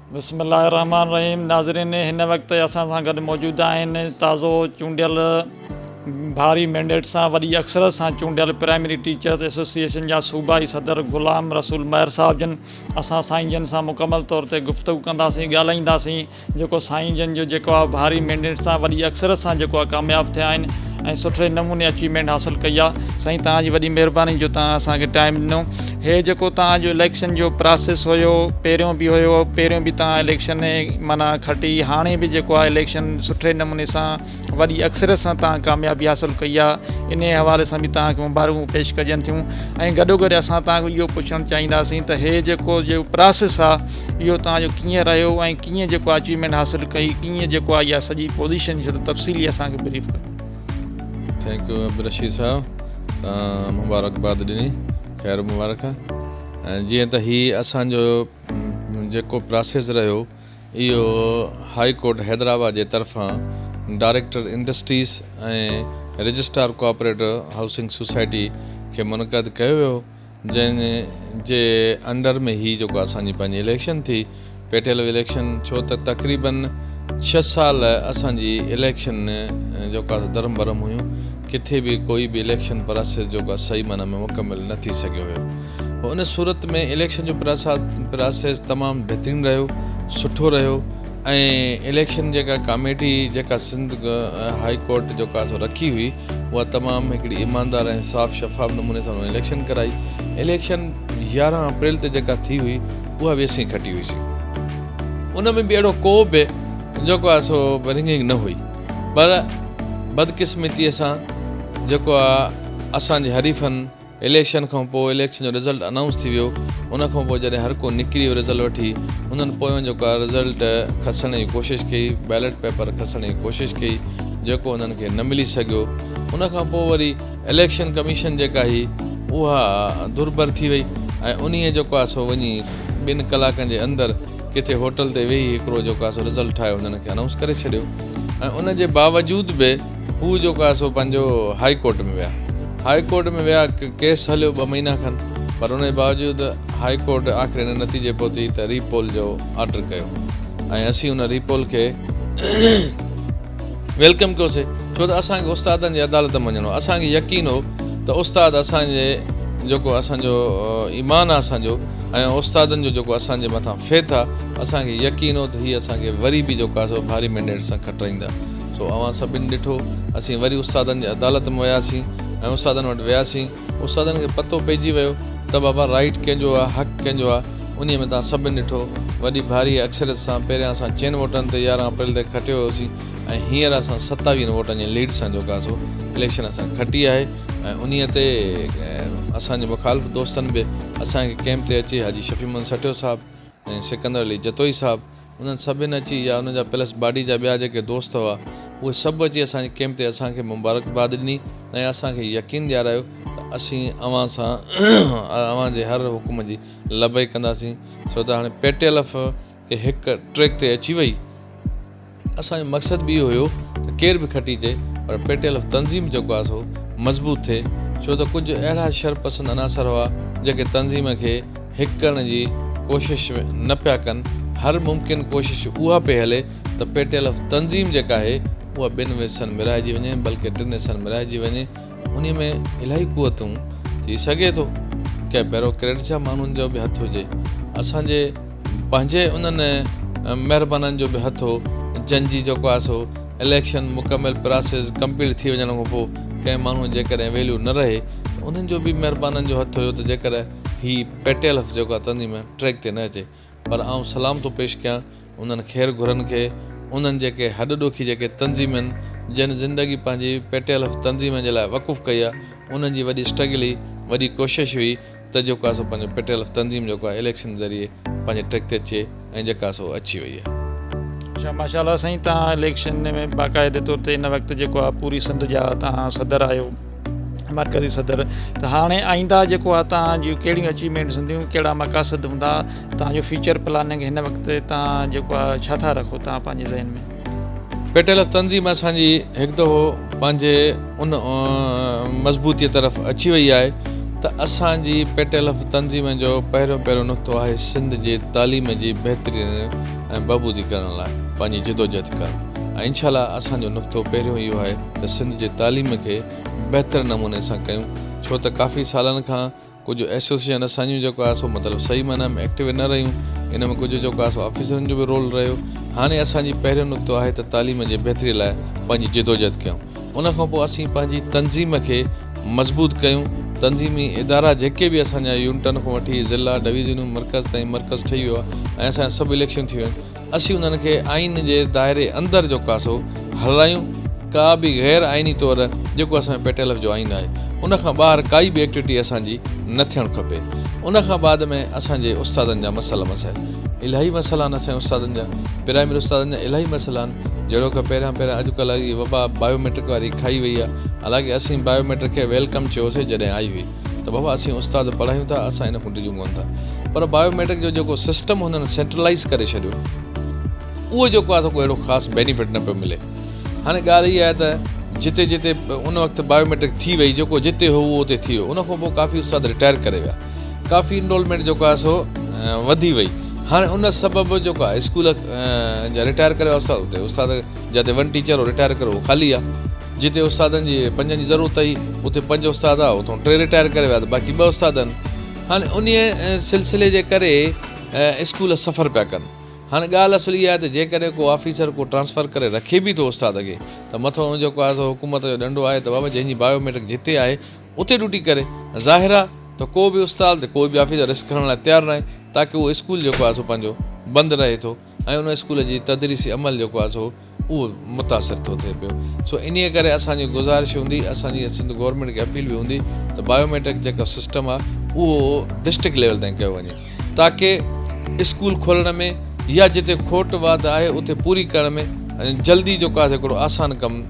بسم الله الرحمٰن الرحيم ناظرين هن وقت اسان سان گڏ موجود آهن تازو چونڊيل ڀاري مينڊيٽ سان وڏي اڪثرت سان چونڊيل پرائمري ٽيچرز ايسوسيئيشن جا صوبائي صدر غلام رسول مهر صاحب جن اسان سائين جن سان مڪمل طور تي گفتگو ڪنداسين ڳالهائينداسين جيڪو سائين جن جو جيڪو آهي ڀاري مينڊيٽ سان وڏي اڪثرت سان جيڪو آهي ڪامياب ٿيا آهن ۽ سٺي نموني اچيومينٽ حاصل ڪئي آ سائين توهان جي وڏي مهرباني جو توهان اسان کي ٽائيم ڏنو هي جيڪو توهان جو اليڪشن جو پراسيس هيو پهريون به هيو پهريون به توهان اليڪشن معنيٰ کٽي هاڻي به جيڪو آ اليڪشن سٺي نموني سان وڏي اڪثريت سان توهان ڪاميابي حاصل ڪئي آ انهي حوالي سان به توهان کي مبارڪون پيش ڪجن ٿيون ۽ گڏوگڏ اسان توهان کي اهو پڇڻ چاهينداسين ته هي جيڪو جو پراسيس آ اهو توهان جو ڪيئن رهيو ۽ ڪيئن جيڪو اچيومينٽ حاصل ڪئي ڪيئن جيڪو آهي اها سڄي پوزيشن جو تفصيلي اسان کي بريف ڪيو ٿينڪ يو عبدالرشيد صاحب تان مبارڪ باد ڏني خير مبارڪ ۽ جيئن ته هي اسان جو جيڪو پراسيس رهيو اهو هاء ڪورٽ حيدرآباد جي طرفان director industries ۽ registrar cooperative housing society کي منعقد ڪيو ويو جنهن جي انڊر ۾ هي جيڪو اسان جي پنهنجي اليڪشن ٿي پيٽيلو اليڪشن ڇو ته تقريبن ڇهه سال اسان جي اليڪشن جيڪو آسان درهم برهم هيون ڪٿي به ڪوئي به اليڪشن پراسيس جيڪو آسان صحيح معنيٰ ۾ مڪمل نه ٿي سگهيو هيو پوء ان صورت ۾ اليڪشن جو پراسيس تمام بهترين رهيو سٺو رهيو ۽ اليڪشن جيڪا ڪاميٽي جيڪا سنڌ هائي ڪورٽ جيڪو آسان رکي هئي اها تمام هڪڙي ايماندار ۽ صاف شفاف نموني سان اليڪشن ڪرائي اليڪشن يارهن اپريل تي جيڪا ٿي هئي اها به اسين کٽي هئي سي ان ۾ به اهڙو ڪو به جيڪو آهي سو رنگنگ نه هئي پر بدقسمتي سان جيڪو آهي اسان جي حريفن اليڪشن کان پوء اليڪشن جو رزلٽ انائونس ٿي ويو ان کان پوء جڏهن هر ڪو نڪري ويو رزلٽ وٺي انهن پويان جو ڪا رزلٽ کسڻ جي ڪوشش ڪئي بيلٽ پيپر کسڻ جي ڪوشش ڪئي جيڪو انهن کي نه ملي سگهيو ان کان پوء وري اليڪشن ڪميشن جيڪا هئي اها دربر ٿي وئي ۽ انهي جيڪو آهي سو وڃي ٻن ڪلاڪن جي اندر ڪٿي هوٽل تي ويهي هڪڙو جيڪو آهي سو رزلٽ ٺاهي انهن کي انائونس ڪري ڇڏيو ۽ ان جي باوجود به هو جيڪو آهي سو پنهنجو هائي ڪورٽ ۾ ويا هائي ڪورٽ ۾ ويا ڪيس هليو ٻه مهينا کن پر ان جي باوجود هائي ڪورٽ آخر ان نتيجي پهتي ته ري پول جو آرڊر ڪيو ۽ اسين ان ري پول کي ويلڪم ڪيوسي ڇو ته اسان کي استادن جي عدالت ۾ وڃڻو اسان کي يقين هو ته استاد اسان جي جيڪو اسان جو ايمان آهي اسان جو ۽ استادن جو جيڪو اسان جي مٿان فيٿ آهي اسان کي يقين هو ته هي اسان کي وري به جيڪو آهي سو ڀاري مينڊيٽ سان کٽرائيندا سو اوهان سڀني ڏٺو. اسين وري استادن جي عدالت ۾ وياسين ۽ استادن وٽ وياسين. استادن کي پتو پئجي ويو ته بابا رائيٽ ڪنهن جو آهي، حق ڪنهن جو آهي. انهيء ۾ توهان سڀني ڏٺو. وڏي ڀاريء اڪثريت سان پهريان اسان چئن ووٽن تي يارهن اپريل تي کٽيو هيوسين ۽ هينئر اسان ستاويهن ووٽن جي ليڊ سان جوڪاسو اليڪشن اسان کٽي آهي ۽ انهيء تي اسان جي مخالف دوستن به اسان کي ڪئمپ تي اچي حاجي شفيع محمد سٺيو صاحب ۽ سڪندر علي جتوئي صاحب انهن سڀن اچي يا انهن جا پلس باڊي جا ٻيا جيڪي دوست هئا اهي سڀ اچي اسان جي ڪئمپ تي اسان کي مبارڪباد ڏني ۽ اسان کي يقين ڏيارايو ته اسين اوهان سان اوهان جي هر حڪم جي لبيڪ ڪنداسين ڇو ته هاڻي پيٽيلف کي هڪ ٽريڪ تي اچي وئي اسان جو مقصد به اهو هيو ته ڪير به کٽي اچي پر پيٽيلف تنظيم جيڪو آهي سو مضبوط ٿئي ڇو ته ڪجهه اهڙا شر پسند عناصر هئا جيڪي تنظيم کي هڪ ڪرڻ جي ڪوشش نه پيا ڪن، هر ممڪن ڪوشش اها پئي هلي ته پي ٽي ايل ايف تنظيم جيڪا آهي اها ٻن حصن ميرائجي وڃي بلڪه ٽن حصن ميرائجي وڃي انهي ۾ الائي قوتون ٿي سگهي ٿو ڪنهن بيروڪريٽس يا ماڻهن جو به هٿ هجي اسان جي پنهنجي انهن مهربانن جو به هٿ هو جن جي جيڪو آهي سو اليڪشن مڪمل پراسيس ڪمپليٽ ٿي وڃڻ کان پوء ڪنهن ماڻهو جيڪڏهن ويليو نه رهي ته انهن جو به مهربانن جو هٿ هيو ته جيڪڏهن هي پيٽيل هٿ جيڪو اتندي م ٽريڪ تي نه اچي پر آئون سلام ٿو پيش ڪيان انهن خير گهرن کي انهن جيڪي هڏ ڏوکي جيڪي تنظيمن جن زندگي پنهنجي پيٽيل هٿ تنظيم جي لاء وقف ڪئي آ انهن جي وڏي اسٽرگل هي وڏي ڪوشش هئي ته جيڪو آ سو پنهنجو پيٽيل هٿ تنظيم جيڪو آ اليڪشن ذريعي پنهنجي ٽريڪ تي اچي ۽ جيڪا سو اچي وئي آهي. اچا ماشا الله سائين تان اليڪشن ۾ باقاعدي طور تي ان وقت جيڪو آ پوري سنڌ جا تان صدر آهيو مرڪزي صدر ته هاڻي آئنده جيڪو آ تان جي ڪهڙيون اچيومينٽس هونديون ڪهڙا مقاصد هوندا تان جو فيوچر پلاننگ هن وقت تان جيڪو آ ڇا ٿا رکو تان پنهنجي ذهن ۾. پيٽل اف تنظيم اسان جي هڪ دفعو پنهنجي ان مضبوطيء طرف اچي وئي آهي ته اسان جي پيٽل اف تنظيم جو پهريون پهريون نقطو آهي سنڌ جي تعليم جي بهترين ۽ بهبودي ڪرڻ لاء پنهنجي جدوجهد ڪرڻ ۽ انشاء الله اسان جو نقطو پهريون اهو آهي ته سنڌ جي تعليم کي بهتر نموني سان ڪيون ڇو ته ڪافي سالن کان ڪجهه ايسوسيئن اسانجون جيڪو آهي سو مطلب صحيح معنيٰ ۾ ايڪٽيو نه رهيون، ان ۾ ڪجهه جيڪو آهي سو آفيسرن جو به رول رهيو. هاڻي اسان جي پهريون نقطو آهي ته تعليم جي بهتري لاء پنهنجي جدوجهد ڪيون. ان کان پوء اسين پنهنجي تنظيم کي مضبوط ڪيون، تنظيمي ادارا جيڪي به اسان جا يونٽن کان وٺي ضلعا، ڊويزنون، مرڪز تائين مرڪز ٺهي ويو آهي ۽ اسان جا سڀ اليڪشن ٿي ويا آهن. اسين انهن کي آئين جي دائري اندر جو ڪاسو هلرايون ڪا به غير آئيني طور جيڪو اسان پي ٽي ايل ايف جو آئين آهي ان کان ٻاهر ڪائي به ايڪٽويٽي اسان جي نه ٿيڻ کپي ان کان بعد ۾ اسان جي استادن جا مسئلا مسائل الاهي مسئلا آهن اسان جي استادن جا پرائمري استادن جا الاهي مسئلا آهن جهڙوڪ پهريان پهريان اڄ ڪلهه جي وبا بايو ميٽرڪ واري کائي وئي آهي حالانڪه اسين بايو ميٽرڪ کي ويلڪم چيوسي جڏهن آئي هئي. ته بابا اسين استاد پڙهايون ٿا اسان ان کان ڊڄون ڪونه ٿا پر بايو ميٽرڪ جو جيڪو سسٽم هنن سينٽرلائيز ڪري ڇڏيو اهو جيڪو آهي سو ڪو اهڙو خاص بينيفٽ نه پيو ملي هاڻي ڳالهه اها آهي ته جتي جتي ان وقت بايو ميٽرڪ ٿي وئي جيڪو جتي هو اهو اتي ٿي ويو ان کان پوء ڪافي استاد رٽائر ڪري ويا ڪافي انرولمينٽ جيڪو آهي سو وڌي وئي هاڻي ان سبب جيڪو آهي اسڪول جا رٽائر ڪري ويا استاد اتي استاد جتي ون ٽيچر هو رٽائر ڪري اهو خالي آهي جتي استادن جي پنجن جي ضرورت ھئي اتي پنج استاد ھئا اتون ٽي رٽائر ڪري ويا ته باقي ٻه استاد آھن ھاڻي انھيء سلسلي جي ڪري اسڪول سفر پيا ڪن ھاڻي ڳالھ اصل اھا آھي ته جيڪڏھن ڪو آفيسر ڪو ٽرانسفر ڪري رکي به ٿو استاد کي ته مٿو ان جيڪو آھي سو حڪومت جو ڏنڊو آھي ته بابا جنھن جي بايو ميٽرڪ جتي آھي اتي ڊيوٽي ڪري ظاھر آھي ته ڪو به استاد ڪو به آفيسر رسڪ کڻڻ لاء تيار ناھي تاڪه اھو اسڪول جيڪو آھي سو پنھنجو بند رھي ٿو ۽ ان اسڪول جي تدريسي عمل جيڪو آھي سو اھو متاثر ٿو ٿئي پيو سو انھيء ڪري اسان جي گذارش ھوندي اسان جي سنڌ گورنمينٽ کي اپيل به ھوندي ته بائيوميٽرڪ جيڪو سسٽم آھي اھو ڊسٽرڪٽ ليول تائين ڪيو وڃي تاڪه اسڪول کولڻ ۾ يا جتي کوٽ واڌ آھي اتي پوري ڪرڻ ۾ جلدي جيڪو آھي سو ھڪڙو آسان ڪم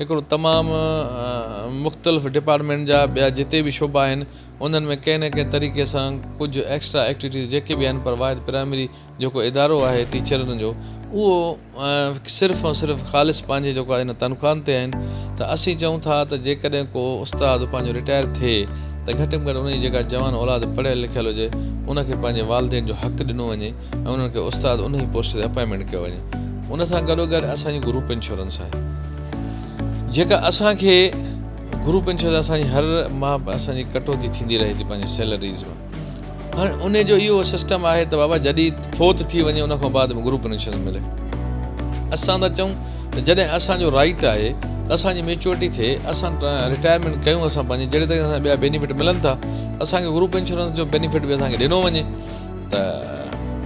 هڪڙو تمام مختلف ڊپارٽمينٽ جا ٻيا جتي به شعبا آهن انهن ۾ ڪنهن نه ڪنهن طريقي سان ڪجهه ايڪسٽرا ايڪٽويٽيز جيڪي به آهن پر واحد پرائمري جيڪو ادارو آهي ٽيچرن جو اهو صرف ۽ صرف خالص پنهنجي جيڪو آهي ان تنخواهن تي آهن ته اسين چئون ٿا ته جيڪڏهن ڪو استاد پنهنجو رٽائر ٿئي ته گهٽ ۾ گهٽ ان جي جيڪا جوان اولاد پڙهيل لکيل هجي ان کي پنهنجي والدين جو حق ڏنو وڃي ۽ انهن کي استاد انهي پوسٽ تي اپائنٽمينٽ ڪيو وڃي ان سان گڏو گڏ اسان جي گروپ انشورنس آهي جيڪا اسان کي گروپ انشورنس اسان جي هر ماهه اسان جي ڪٽوتي ٿيندي رهي ٿي پنهنجي سيلريز مان هاڻي ان جو اهو سسٽم آهي ته بابا جڏي فوت ٿي وڃي ان کان بعد گروپ انشورنس ملي اسان ٿا چون ته جڏهن اسان جو رائٽ آهي ته اسان جي ميچورٽي ٿئي اسان رٽائرمينٽ ڪيون اسان پنهنجي جهڙي طريقي سان ٻيا بينيفٽ ملن ٿا اسان کي گروپ انشورنس جو بينيفٽ به اسان کي ڏنو وڃي ته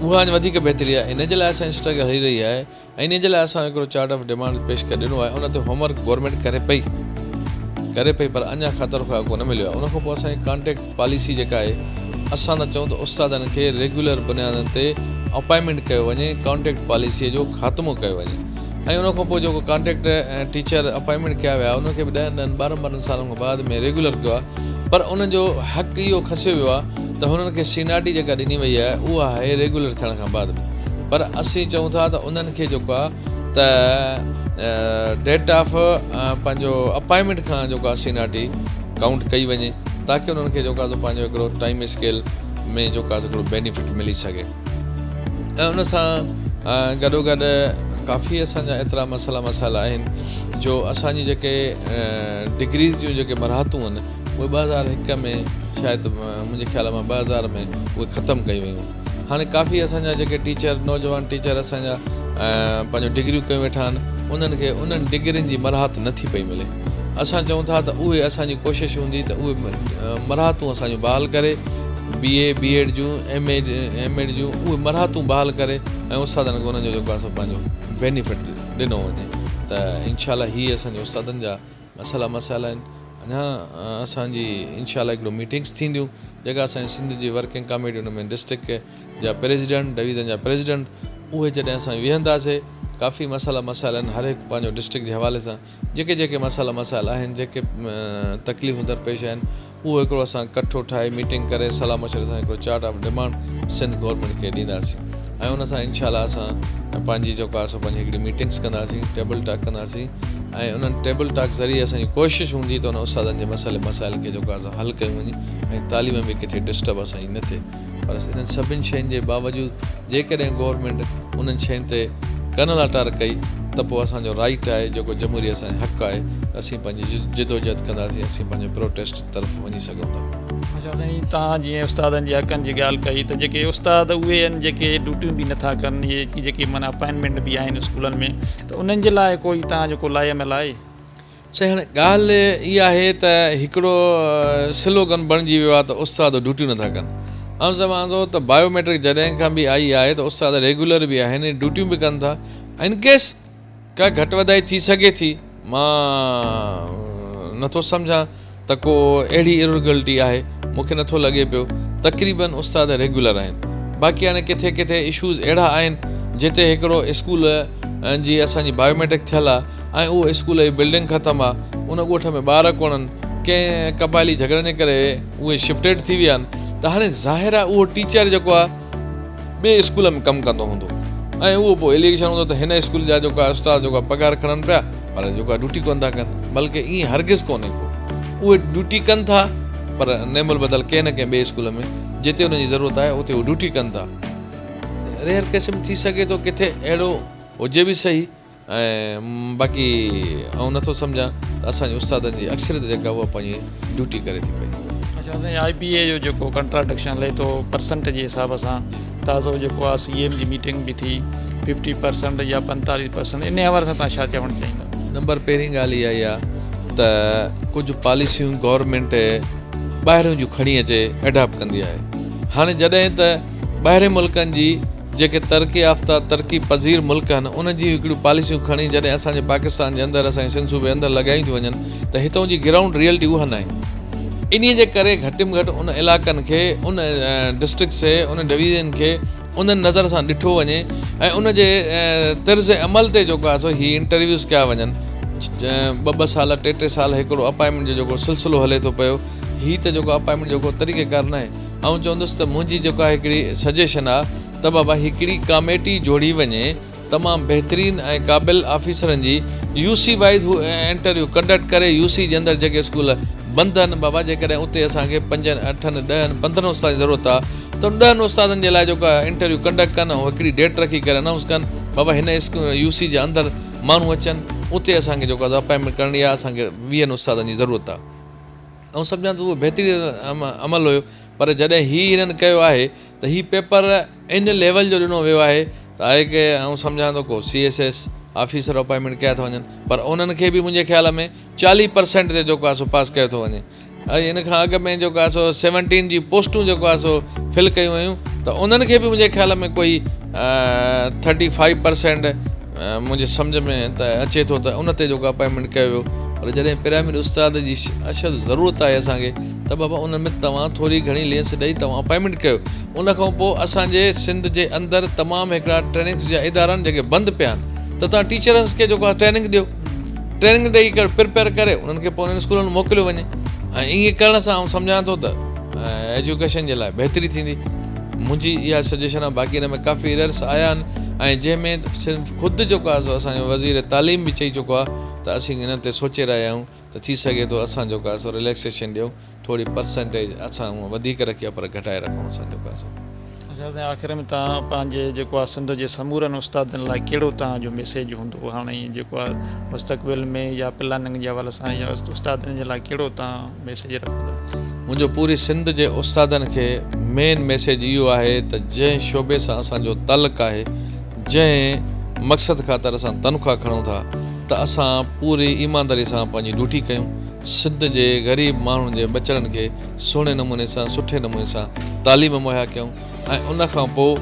اها اڃا وڌيڪ بهتري آهي ان جي لاء اسان جي اسٽرگل هلي رهي آهي ۽ انهي جي لاء اسان هڪڙو چارٽ آف ڊمانڊز پيش ڪري ڏنو آهي ان تي هوم ورڪ گورنمينٽ ڪري پئي ڪري پئي پر اڃا خاطر خواهه ڪو نه مليو آهي ان کان پوء اسان جي ڪانٽيڪٽ پاليسي جيڪا آهي اسان ٿا چئون ته استادن کي ريگيولر بنيادن تي اپائنٽمينٽ ڪيو وڃي ڪانٽيڪٽ پاليسي جو خاتمو ڪيو وڃي ۽ ان کان پوء جيڪو ڪانٽيڪٽ ۽ ٽيچر اپائنٽمينٽ ڪيا ويا انهن کي به ڏهن ڏهن ٻارهن ٻارهن سالن کان بعد ۾ ريگيولر ڪيو آهي پر انهن جو حق اهو کسيو ويو آهي ته هنن کي سينئارٽي جيڪا ڏني وئي آهي اها آهي ريگيولر ٿيڻ کان بعد به پر اسين چئون ٿا ته انهن کي جيڪو آهي ته ڊيٽ آف پنهنجو اپائنٽمينٽ کان جيڪو آهي سينئارٽي ڪائونٽ ڪئي وڃي تاڪي انهن کي جيڪو آهي سو پنهنجو هڪڙو ٽائيم اسڪيل ۾ جيڪو آهي سو هڪڙو بينيفٽ ملي سگهي ۽ ان سان گڏوگڏ ڪافي اسان جا ايترا مسئلا مسائل آهن جو اسان جي جيڪي ڊگريز جون جيڪي مراحتون آهن اهي ٻه هزار هڪ ۾ شايد منهنجي خيال مان ٻه هزار ۾ اهي ختم ڪيون ويون هاڻي ڪافي اسان جا جيڪي ٽيچر نوجوان ٽيچر اسان جا پنهنجو ڊگريون ڪيون ويٺا آهن انهن کي انهن ڊگرين جي مراحت نٿي پئي ملي اسان چئون ٿا ته اهي اسان جي ڪوشش هوندي ته اهي مرحاتون اسان جون بحال ڪري، بي اي، بي ايڊ جون، ايم اي، ايم ايڊ جون اهي مرحاتون بحال ڪري ۽ استادن کي انهن جو جيڪو آهي سو پنهنجو بينيفٽ ڏنو وڃي ته انشاء الله هي اسان جي استادن جا مسئلا مسائل آهن. اڃا اسان جي انشاء الله هڪڙو ميٽنگس ٿينديون جيڪا اسان جي سنڌ جي ورڪنگ ڪاميٽي ان ۾ ڊسٽرڪٽ جا پريزيڊنٽ، ڊويزن جا پريزيڊنٽ اهي جڏهن اسان ويهنداسي ڪافي مسئلا مسائل آهن هر هڪ پنهنجو ڊسٽرڪٽ جي حوالي سان جيڪي جيڪي مسئلا مسائل آهن جيڪي تڪليفون درپيش آهن اهو هڪڙو اسان ڪٺو ٺاهي ميٽنگ ڪري صلاح مشوري سان هڪڙو chart of demand Sindh government کي ڏينداسين ۽ ان سان انشاء الله اسان پنهنجي جيڪو آهي سو پنهنجي هڪڙي ميٽنگس ڪنداسين ٽيبل ٽاڪ ڪنداسين ۽ انهن ٽيبل ٽاڪ ذريعي اسان جي ڪوشش هوندي ته ان استادن جي مسئلي مسائل کي جيڪو آهي سو حل ڪيون وڃي ۽ تعليم ۾ ڪٿي ڊسٽرب اسان جي نه ٿئي پر انهن سڀني شين جي باوجود جيڪڏهن گورنمينٽ انهن شين تي ڪن لاٽار ڪئي ته پوء اسان جو رائيٽ آهي جيڪو جمهوري اسان جو حق آهي ته اسين پنهنجي جدوجهد ڪنداسين اسين پنهنجي پروٽيسٽ طرف وڃي سگهون ٿا. اچو سائين توهان جيئن استادن جي حقن جي ڳالهه ڪئي ته جيڪي استاد اهي ان جيڪي ڊيوٽيون به نٿا ڪن اهي جيڪي معنيٰ اپائنٽمينٽ به آهن اسڪولن ۾ ته انهن جي لاء ڪوئي توهان جو ڪو لاء عمل آهي؟ چهڻ ڳالهه ئي آهي ته هڪڙو سلوگن بڻجي ويو آهي ته استاد ڊيوٽيون نٿا ڪن. آئون چوان ٿو ته بايو ميٽرڪ جڏهن کان به آئي آهي ته استاد ريگيولر به آهن ۽ ڊيوٽيون به ڪن ٿا ان ڪيس ڪا گهٽ وڌائي ٿي سگهي ٿي مان نٿو سمجهان ته ڪو اهڙي اررگلٽي آهي مون کي نٿو لڳي پيو تقريبا استاد ريگيولر آهن باقي هاڻي ڪٿي ڪٿي اشوز اهڙا آهن جتي هڪڙو اسڪول جي اسان جي بايوميٽرڪ ٿيل آهي ۽ اهو اسڪول جي بلڊنگ ختم آهي ان ڳوٺ ۾ ٻار ڪونهن ڪنهن قبائلي جهڳڙن جي ڪري اهي شفٽيڊ ٿي ويا آهن ته هاڻي ظاهر آهي اهو ٽيچر جيڪو آهي ٻئي اسڪول ۾ ڪم ڪندو هوندو ۽ اهو پوء اليگيشن هوندو ته هن اسڪول جا جيڪو استاد جيڪو پگهار کڻن پيا پر جيڪو ڊيوٽي ڪونه ٿا ڪن بلڪ ائين هرگز ڪونهي ڪو اهي ڊيوٽي ڪن ٿا پر نعم البدل ڪنهن نه ڪنهن ٻئي اسڪول ۾ جتي انهن جي ضرورت آهي اتي اهي ڊيوٽي ڪن ٿا ريئر قسم ٿي سگهي ٿو ڪٿي اهڙو هجي به سهي ۽ باقي آئون نه ٿو سمجهان ته اسان جي استادن جي اڪثريت جيڪا اها پنهنجي ڊيوٽي ڪري ٿي پئي. اچا اسان جي آئي بي اي جو جيڪو ڪنٽراڊڪشن هلي ٿو پرسنٽ جي حساب سان تازو جيڪو آهي سي ايم جي ميٽنگ به ٿي ففٽي پرسنٽ يا پنتاليهه پرسنٽ انهي حوالي سان توهان ڇا چوڻ چاهيندا. نمبر پهرين ڳالهه اها ئي آهي ته ڪجهه پاليسيون گورنمينٽ ٻاهريون جون کڻي اچي ايڊاپٽ ڪندي آهي هاڻي جڏهن ته ٻاهرين ملڪن جي جيڪي ترقي يافته، ترقي پذير ملڪ آهن، انهن جي هڪڙيون پاليسيون کڻي جڏهن اسان جي پاڪستان جي اندر، اسان جي سنڌ صوبي اندر لڳايون ٿيون وڃن ته هتئون جي گرائونڊ ريئلٽي اها ناهي. انهيء جي ڪري گهٽ م گهٽ ان علاقن کي، ان ڊسٽرڪٽس کي، انهن ڊويزنن کي انهن نظر سان ڏٺو وڃي ۽ ان جي طرز عمل تي جيڪو آهي سو هي انٽرويوز ڪيا وڃن. ٻه ٻه سال، ٽي ٽي سال هڪڙو اپائنٽمينٽ جو جيڪو سلسلو هلي ٿو پيو، هي ته جيڪو اپائنٽمينٽ جيڪو طريقيڪار ناهي. آئون چوندس ته منهنجي جيڪا هڪڙي سجيشن آ ته بابا هڪڙي ڪاميٽي جوڙي وڃي تمام بهترين ۽ قابل آفيسرن جي يو سي وائيز هو انٽرويو ڪنڊڪٽ ڪري يو سي جي اندر جيڪي اسڪول بند ان بابا جيڪڏهن اتي اسان کي پنجن اٺن ڏهن پندرهن استادن جي ضرورت آ ته ان ڏهن استادن جي لاء جيڪو آ انٽرويو ڪنڊڪٽ ڪن ۽ هڪڙي ڊيٽ رکي ڪري انائونس ڪن بابا هن يو سي جي اندر ماڻهو اچن اتي اسان کي جيڪو آ سا اپائنٽمينٽ ڪرڻي آ اسان کي ويهن استادن جي ضرورت آ. آئون سمجهان ٿو ته اهو بهترين عمل هيو پر جڏهن هي هنن ڪيو آهي ته هي پيپر ان ليول جو ڏنو ويو آهي ته آء کي آئون سمجهان ٿو ڪو C S S officer appointment ڪيا ٿا وڃن پر انهن کي به منهنجي خيال ۾ چاليهه پرسينٽ تي جيڪو آهي سو پاس ڪيو ٿو وڃي ۽ ان کان اڳ ۾ جيڪو آهي سو سيونٽين جي پوسٽون جيڪو آهي سو فل ڪيون ويون ته انهن کي به منهنجي خيال ۾ ڪوئي ٿرٽي فائيو پرسينٽ منهنجي سمجهه ۾ ته اچي ٿو ته ان تي جيڪو اپائنٽمينٽ ڪيو ويو پر جڏهن پرائمري استاد جي اشد ضرورت آهي اسان کي ته بابا ان ۾ توهان ٿوري گهڻي لينس ڏئي توهان اپائنٽمينٽ ڪيو ان کان پوء اسان جي سنڌ جي اندر تمام هڪڙا ٽريننگس جا ادارا آهن جيڪي بند پيا آهن ته توهان ٽيچرس کي جيڪو ٽريننگ ڏيو ٽريننگ ڏئي ڪري پرپيئر ڪري انهن کي پوء انهن اسڪولن ۾ موڪليو وڃي ۽ ائين ڪرڻ سان آئون سمجهان ٿو ته ايجوڪيشن جي لاء بهتري ٿيندي منهنجي اها سجيشن آهي باقي ان ۾ ڪافي ايررس آيا آهن ۽ جنهن ۾ صرف خود جيڪو آهي سو اسان جو وزير تعليم به چئي چڪو آهي ته اسين انهن تي سوچي رهيا آهيون ته ٿي سگهي ٿو اسان جيڪو آهي سو رليڪسيشن ڏيون ٿوري پرسنٽيج اسان هونئن وڌيڪ رکي آهي پر گهٽائي رکون اسان جيڪو آهي سو. اچا سائين آخر ۾ تان پنهنجي جيڪو آهي سنڌ جي سمورن استادن لاء ڪهڙو تان جو ميسيج هوندو هاڻي جيڪو آهي مستقبل ۾ يا پلاننگ جي حوالي سان يا استادن جي لاء ڪهڙو تان ميسيج رکندو. منهنجو پوري سنڌ جي استادن کي مين ميسيج اهو آهي ته جنهن شعبي سان اسان جو تعلق آهي جنهن مقصد خاطر اسان تنخواهه کڻون ٿا ته اسان پوري ايمانداري سان پنهنجي ڊيوٽي ڪيون سنڌ جي غريب ماڻهن جي ٻچڙن کي سهڻي نموني سان سٺي نموني سان تعليم مهيا ڪيون. ۽ ان کان پوء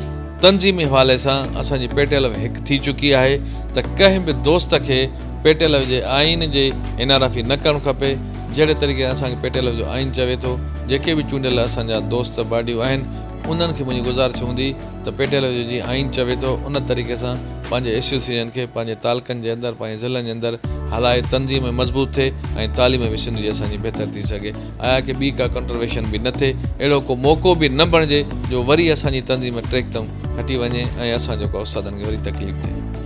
تنظيمي حوالي سان اسان جي پيٽيلو هڪ ٿي چڪي آهي ته ڪنهن به دوست کي پيٽيلو جي آئين جي انحرافي نه ڪرڻ کپي جهڙي طريقي سان اسان کي پيٽيلو جو آئين چوي ٿو جيڪي به چونڊيل اسان جا دوست باڊيون آهن انهن کي منهنجي گذارش هوندي ته پيٽيلو جو جيئن آئين چوي ٿو ان طريقي سان پنهنجي ايسوسيئيشن کي پنهنجي تعلقن جي اندر پنهنجي ضلعن جي اندر هلائي تنظيم مضبوط ٿئي ۽ تعليم به سنڌ جي اسان جي بهتر ٿي سگهي. آيا ڪي ٻي ڪا ڪنٽرويشن به نه ٿئي اهڙو ڪو موقعو به نه بڻجي جو وري اسان جي تنظيم ٽيڪتم هٽي وڃي ۽ اسان جو ڪو استادن کي وري تڪليف ٿئي.